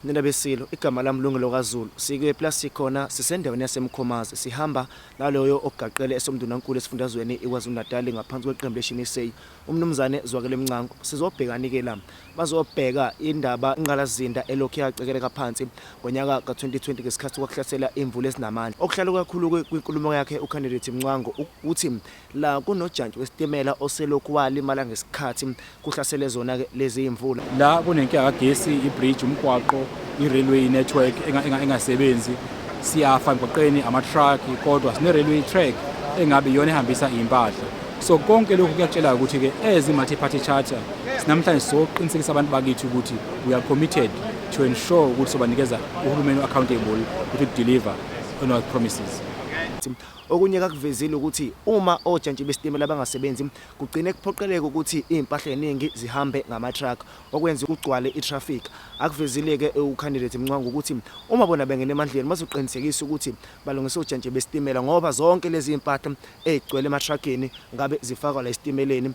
Nina beSilo, igama lami Lungelo kaZulu. Sikephi la sikhona? Sisendaweni yaseMkhomazi. Sihamba naloyo ogaqele esomndunankulu esifundazweni iKwaZulu-Natali ngaphansi kweqembu leShini Say, uMnumzane Zwakele Mncwango. Sizobhekani-ke la? Bazobheka indaba ingqalazinda elokhu yacekeleka phansi ngonyaka ka-2020 ngesikhathi kwakuhlasela imvula ezinamandla. Okuhlale kukakhulu kwinkulumo yakhe uKhandidethi Mncwango ukuthi La kunojantshi wesitimela oselokhu walimala ngesikhathi kuhlasele zona lezi yimvula. La kunenkinga kagesi, ibridge, umgwaqo, i-railway network engasebenzi. Siyafa emgwaqeni ama-truck kodwa sine-railway track engabe iyona ehambisa iy'mpahla. So konke lokhu kuyatshela ukuthi-ke as i-multi-party charter sinamhlanje sizoqinisekisa abantu bakithi ukuthi we are committed to ensure ukuthi sobanikeza uhulumeni u-accountable ukuthi deliver on our promises. Okunye akakuvezile ukuthi uma ojantshi besitimela bangasebenzi kugcine kuphoqeleka ukuthi izimpahla eziningi zihambe ngama-truck okwenze kugcwale i-traffic. Akuvezile-ke uCandidate Mncwango ukuthi uma bona bengena emandleni bazoqinisekisa ukuthi balungisa ojantshi besitimela ngoba zonke lezi zimpahla ezigcwele ema-truck-ini ngabe zifakwa la esitimeleni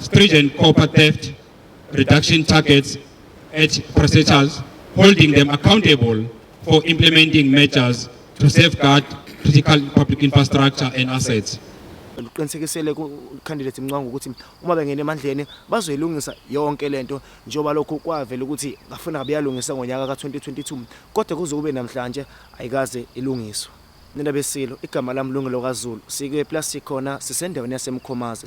stringent copper theft reduction targets at processors, holding them accountable for implementing measures to safeguard critical public infrastructure and assets. uqinisekisele kucandidate Mncwango ukuthi uma bengena emandleni bazoyilungisa yonke lento njengoba lokho kwavela ukuthi ngafuna ngabe yalungisa ngonyaka ka-2022 kodwa kuze kube namhlanje ayikaze ilungiswe nina besilo igama lami lungelo kaZulu sikwe plus sikhona sisendaweni yasemkhomazi